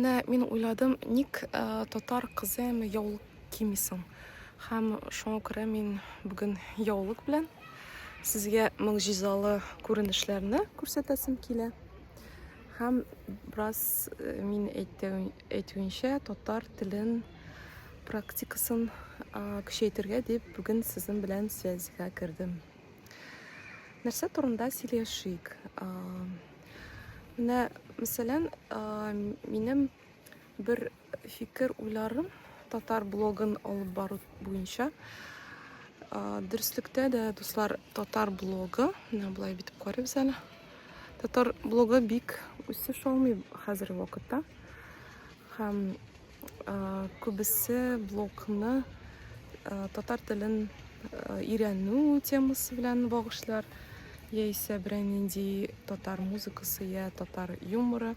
Менә мин уйладым, ник э, татар кызы әмма яулык кими соң? Һәм шуңа күрә мин бүген яулык белән сезгә могҗизалы күренешләрне күрсәтәсем килә. Һәм бераз э, мин әйтү- әйтүенчә татар телен практикасын э, көчәйтергә дип бүген сезнең белән связьга кердем. Нәрсә турында сөйләшик? Менә, мәсәлән, минем бер фикер уйларым татар блогын алып бару буенча дөреслектә дә дуслар татар блогы менә былай битеп карыйбыз әле татар блогы бик үсеш алмый хәзерге вакытта һәм Күбесе блогны татар телен өйрәнү темасы белән багышлар, яисә берәй нинди татар музыкасы я татар юморы.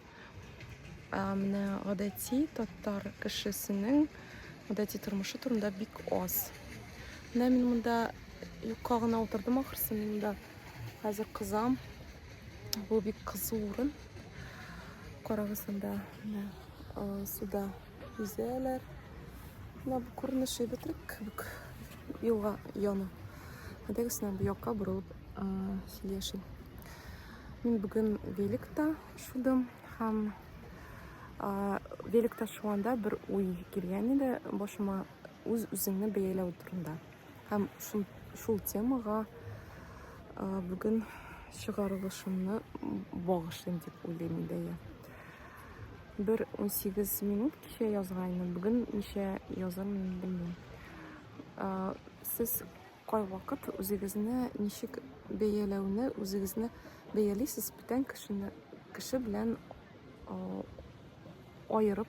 Менә гадәти татар кешесенең гадәти тормышы турында бик аз. Менә мин монда юкка гына утырдым ахрысы, мин монда хәзер кызам. Бу бик кызу урын. Карагыз монда менә суда үзәләр. Менә бу күренеш әйбәтрәк кебек. Елга яны. Әдәгесенә бу якка борылып сөйләшим. Мин бүген великта шудым һәм великта шуганда бер уй килгән иде башыма үз-үзеңне бәяләү турында. Һәм шул, шул темага бүген чыгарылышымны багышлыйм дип уйлыйм инде я. Бер 18 минут кичә язганмын, бүген ничә язамын белмим. Сез кайвакыт үзегезне ничек бәяләүне, үзегезне бәялисез бүтән кешене, кеше белән аерып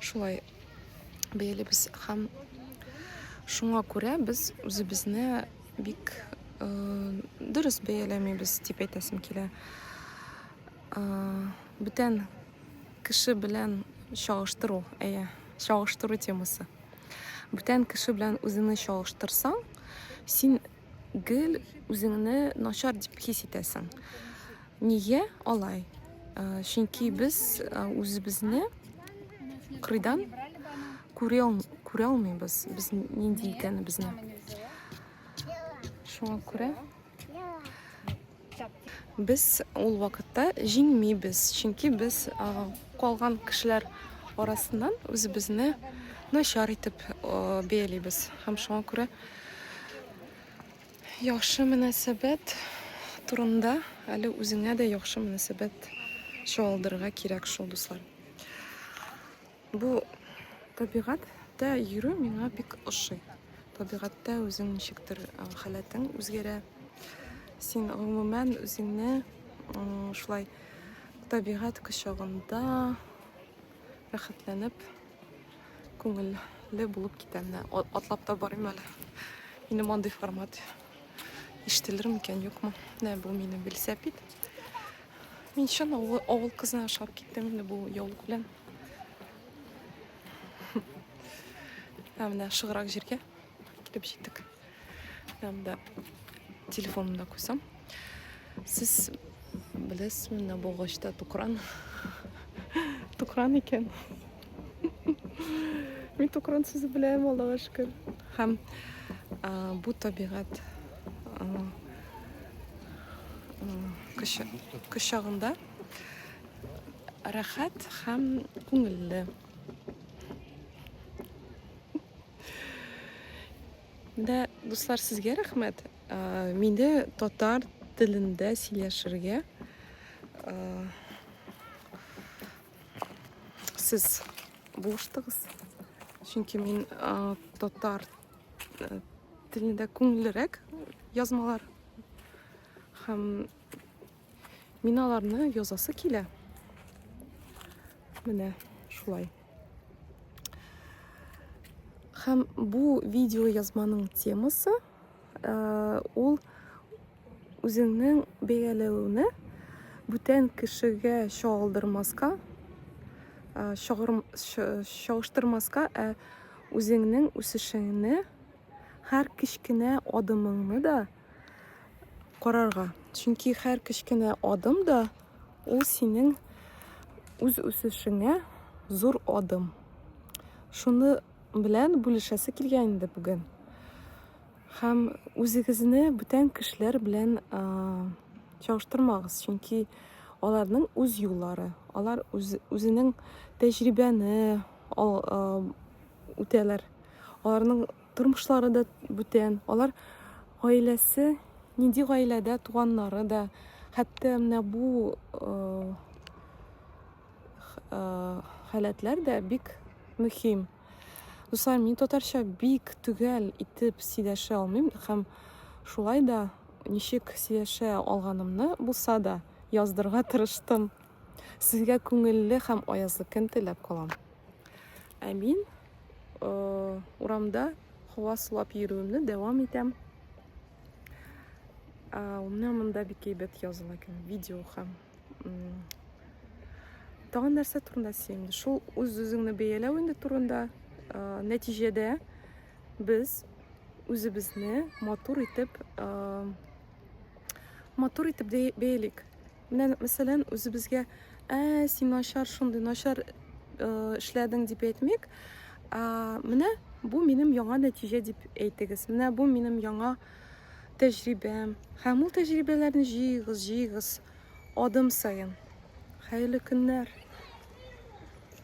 Шулай бәялибез һәм шуңа күрә без үзебезне бик э, дөрес бәяләмибез дип әйтәсем килә. Э, бүтән кеше белән чагыштыру, әйе, чагыштыру темасы. Бүтән кеше белән үзеңне чагыштырсаң, син гел үзеңне начар дип хис итәсең. Нигә алай? Чөнки без үзебезне кырыйдан күрә күрә алмыйбыз. Без нинди икәнебезне. Шуңа күрә без ул вакытта җиңмибез. Чөнки без калган кешеләр арасыннан үзебезне начар итеп бәялибез. Һәм шуңа күрә Яхшы мөнәсәбәт турында әле үзеңә дә яхшы мөнәсәбәт чуалдырырга кирәк шул, дуслар. Бу табигатьтә йөрү миңа бик ошый. Табигатьтә үзең ничектер халәтең үзгәрә. Син гомумән үзеңне шулай табигать кочагында рәхәтләнеп Күңелле булып китә менә. Атлап та барыйм әле. Минем андый формат ишетелер микән, юкмы? Менә бу минем велосипед. Мин чын авыл, авыл кызына ошап киттем инде бу яулык белән. Ә менә шыграк җиргә килеп җиттек. Һәмдә телефонымда куйсам. Сез беләсезме, менә бу агачта тукран. Тукран икән. Мин тукран сүзе беләм, Аллага шөкер. Һәм бу табигать кочагында рәхәт һәм күңелле. Да, дуслар, сезгә рәхмәт. Ә, мине татар телендә сөйләшергә ә, сез булыштыгыз. Чөнки мин ә, татар ә, телендә күңеллерәк язмалар һәм Мин аларны язасы килә. Менә шулай. Хәм бу видео язманың темасы э, ул үзеңнең бәяләвеңне бүтән кешегә чагылдырмаска, э, чагыштырмаска, ә үзеңнең үсешеңне һәр кечкенә адымыңны да карарга. Чөнки һәр кечкенә адым да ул синең үз үсешеңә зур адым. Шуны белән бүлешәсе килгән инде бүген. Һәм үзегезне бүтән кешеләр белән чагыштырмагыз, чөнки аларның үз юллары, алар үз, үзенең тәҗрибәне үтәләр. Аларның Тормышлары да бүтән. Алар гаиләсе, нинди гаиләдә туганнары да, хәтта менә бу э, э, халәтләр дә бик мөһим. Дуслар, мин татарча бик төгәл итеп сөйләшә алмыйм һәм шулай да ничек сөйләшә алганымны булса да яздырга тырыштым. Сезгә күңелле һәм аязлы көн теләп калам. Ә мин э, урамда һава сулап йөрүемне дәвам итәм. Ә, менә монда бик әйбәт языла икән видео һәм тагын нәрсә турында сөйлим шул үз үзеңне бәяләү инде турында ә, нәтиҗәдә без үзебезне матур итеп ә, матур итеп бәялик Менә ник мәсәлән үзебезгә, ә син начар, шундый начар э, эшләдең дип әйтмик. Ә, менә бу минем яңа нәтиҗә дип әйтегез. Менә бу минем яңа тәҗрибәм. Һәм ул тәҗрибәләрне җыегыз, җыегыз адым саен. Хәерле көннәр.